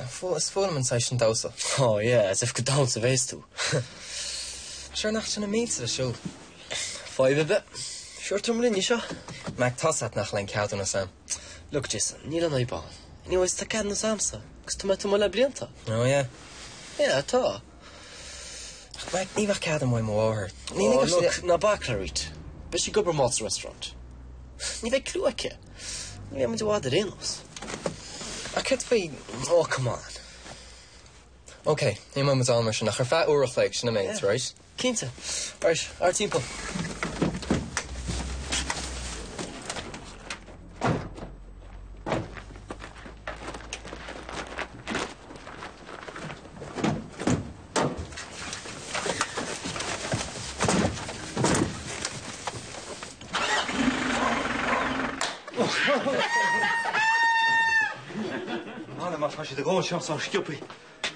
Is fuath liom an saghas sin damhsa. Oh yeah, as if gur ag damhsa a bhéas tú. Sure nach sin na mílte le siúl. Fadhb ar bith. Sure tabharfaidh muid linn í seo. Mac tá a fhios agat nach bhfuil aon cheadúnas agam. Look Jason, níl aon fhadhb ann. Anyways tá ceadúnas agamsa agus tá mé ag tiomáint le blianta. Oh yeah. Yeah tá. Mac, ní bheadh cead agam ó mo mháthair. Ní lig ach sin. Ná bac le Rita. Beidh sí ag obair mall sa restaurant. Ní bheidh cliú aici. Ní bheidh muid i bhfad ar aon nós. Ach cad faoi, oh come on. Ok, imeoidh muid ann mar sin ach ar feadh uair a chloig, sin an méid, right? Yeah, cinnte. Right, ár dtimpeall. Anna, má tá siad ag ól seo sách sciobthaí,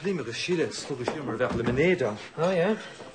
Liam agus Síle ag slogadh siar mar a bheadh lemonade ann. Ó, yeah?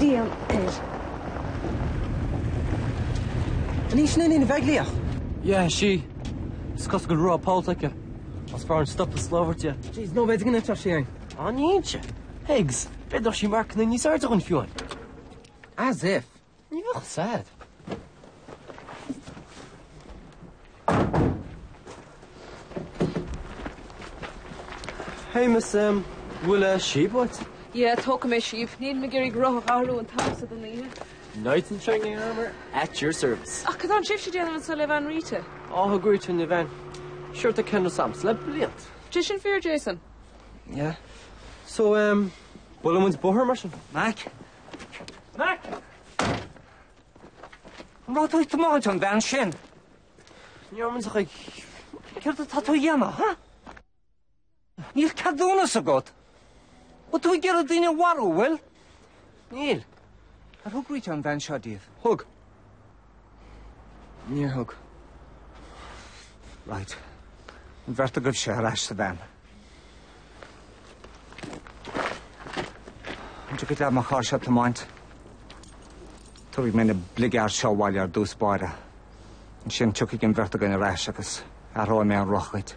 Bhíonn air. An í sin Iníon Ní Bheaglaoich? Yeah, sí. Is cosúil go bhfuil roth pollta aici. Is fearr dúinn stopadh is lámh a thabhairt di. Jeez, no way do ghiniúint ar sin. An inse? Higgs, b'fhéidir nach sí marcanna níos airde dhúinn fiú. As if! Ní bheadh said. Hey Miss, an bhfuil síob uait? Yeah, tógfaidh mé síob. Níl mé ag iarraidh roth a athrú an t-am seo den oíche. Knights in shining armour at your service. Ach cad tá sibhse ag déanamh anso le veain Rita? Á thug Rita an veain. Sure tá ceadúnas agamsa le blianta. Bhfuil sé sin fíor Jason? Yeah. So, em, buailfidh muid bóthar mar sin? Mac, Mac! Raibh tú ag tiomáint an veain sin! Níor mhúin sa chuig. Céard atá tú a dhéanamh, ha? Níl ceadúnas agat. Bhfuil tú ag iarraidh daoine a mharú, bhfuil? Níl. Ar thug Rita an veain seo daoibh? Thug. Níor thug. Right. An bheirt agaibhse ar ais sa veain. An dtiocfaidh leat mo charrsa a thiomáint? Tabharfaidh mé na bligeaird seo abhaile ar dtús báire. Ansin tiocfaidh an bheirt againn ar ais agus athróidh mé an roth dhuit.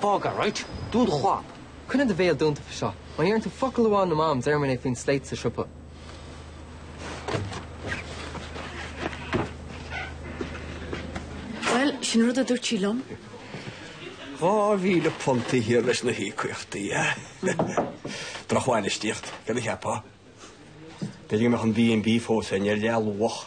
Fág a roinnt dún do chlab. Coinnigh do bhéal dúnta fá seo. Má déarann tú focal amháin le mam déarfaidh mé faoin sléit sa siopa. Bhuel, sin an rud a dúirt sí liom. Dhá mhíle punt thiar leis na híocaíochtaí, eh? Drochbhainistíocht, cad a cheapfá? B'fhéidir go mbeadh an B&B fós ann ar leath luach.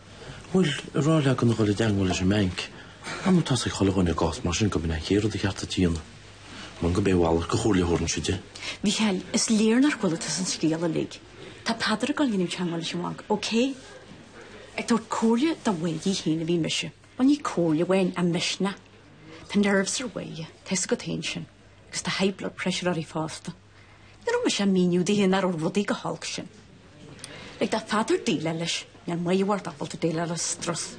Bhuel, a rá léi gan a dhul i dteangmháil leis an mbanc. Nuair atá 'fhios ag chuile dhuine i gcás mar sin go mb'in é an chéad rud ba cheart a dhéanamh? Mar b'é a mhalairt de chomhairle a thabharfainnse di. A Mhícheáil, is léir nár chuala tusa an scéal uilig. Tá Peadar ag dul a dhéanamh teangmháil leis an Bhanc, ócé? Ag tabhairt comhairle do Mháire í féin a bhí mise. Bhuel, ní comhairle amháin, ach misneach. Tá nerves ar Mháire, tá 'fhios agat féin sin. Agus tá high blood pressure uirthi fosta. Ní raibh mise ach ag míniú di nach raibh rudaí chomh holc sin. Lig do Pheadar déileáil leis, níl Máire sórt ábalta déileáil le strus.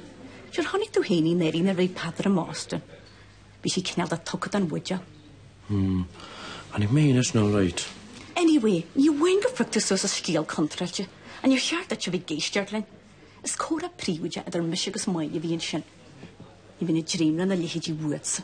Siúr chonaic tú féin, í anuraidh, nuair a bhí Peadar i mBoston. Bhí sí cineál de tugtha don bhuidéal. Hm, chonaic mé féin é sin alright. Anyway, ní amháin gur phioc tú suas an scéal contráilte, ach níor cheart duit a bheith ag éisteacht linn. Is comhrá príobháideach idir mise agus Máire a bhí ansin. Ní bheinn ag dréim lena leithéidí uaitse.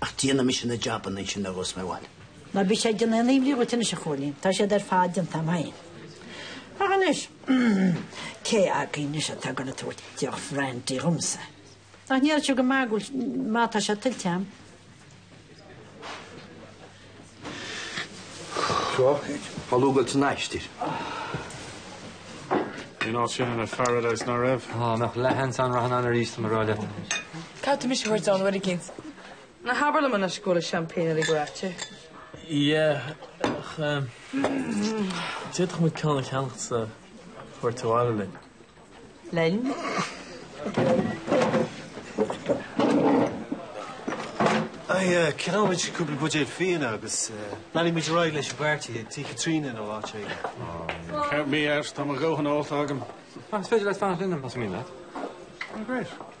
Ach déanfaidh mise na jabanna ansin dhuit, más maith leat. Ná bíodh sé ag déanamh aon imní dhuit anois, a Chóilín. Tá siad ar fad déanta agam féin. Ach anois, cé agaibh anois atá ag dul a tabhairt deoch bhrandaí dhomsa? Ach níl sé go maith go bhfuil, má tá sé tuillte agam. Crochadh. Tá lúgailt san aistir. Bhí an áit sin ina paradise, nach raibh? Ó, dá mbeadh leath-seans agam rachainn ann arís, tá mé ag rá leat. Caithfidh tú mise a thabhairt ann, uair éicint? Ná habair liom anois go bhfuil an seaimpéin uilig ráite. Yeah. D'fhéadfadh muid ceann a cheannacht is a thabhairt abhaile. linn. Ceannóidh muid cúpla buidéal fíona agus leanfaidh muid ar aghaidh leis an bpairtí tigh Chaitríona nó áit éigin. Count me out, tá mo dhóthain ólta agam. Is féidir leat fanacht linne más mian leat. Great.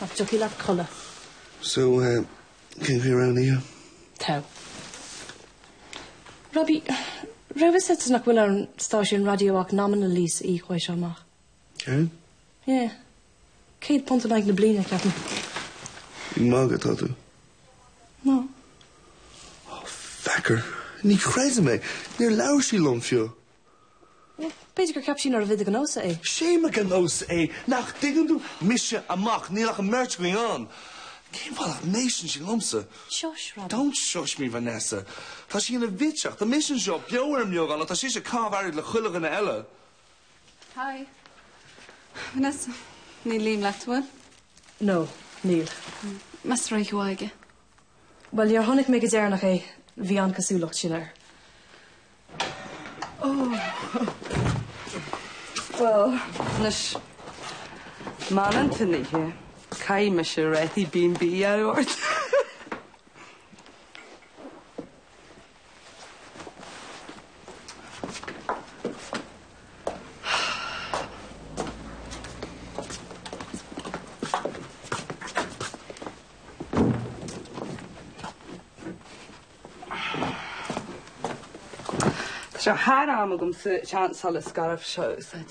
Nach dtiocfaidh leat codladh? So, cén chaoi a raibh an oíche? Tá. Robbie, raibh fhios agat nach bhfuil ar an stáisiún raidió ach nominal lease a íoc uaidh seo amach. Céard? Yeah. Céad punt in aghaidh na bliana, ceapaim. Ag magadh atá tú? No. Oh, fecker. Ní chreidim é. Níor labhair sí liom fiú. B'fhéidir gur cheap sí nárbh é do ghnó-sa é. 'Sé mo ghnó-sa é, nach dtuigeann tú? Mise a mac, níl ach an mbeirt againn ann. Cén fáth nach n-éisteann sí liomsa? Shush, Robin. Don't shush me, Vanessa. Tá sí ina bhitseach. Tá mise anseo, beo ar an mbeagán, ach tá sise cam flaithiúil le chuile dhuine eile. Hi. Vanessa, níl Liam leat, an bhfuil? No, níl. Mise réidh suaite aige. Bhuel, nuair a chonaic mé go deireanach é, bhí an chosúlacht sin air. Ó! Bhuel. Anois, má tá an t-anraith ite, caithfidh mise réiteach le béile a thabhairt. Tá sé thar am agamsa an tsean-scairf seo a úsáid.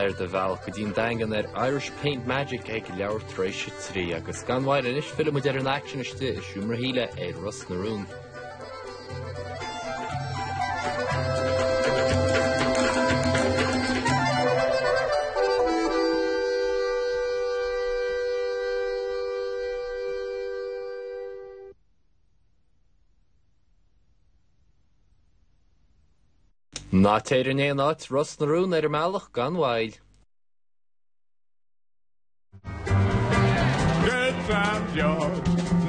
ar do bhealach go dtí'n daingean ar Irish Paint Magic ag leathuair tar éis 3 agus gan mhoill anois fillfidh muid ar an aicsean istigh i Seomra Shíle i Ros na Rún. Ná téir in aon áit, Ros na Rún, ar an mbealach gan mhoill. Good time, George.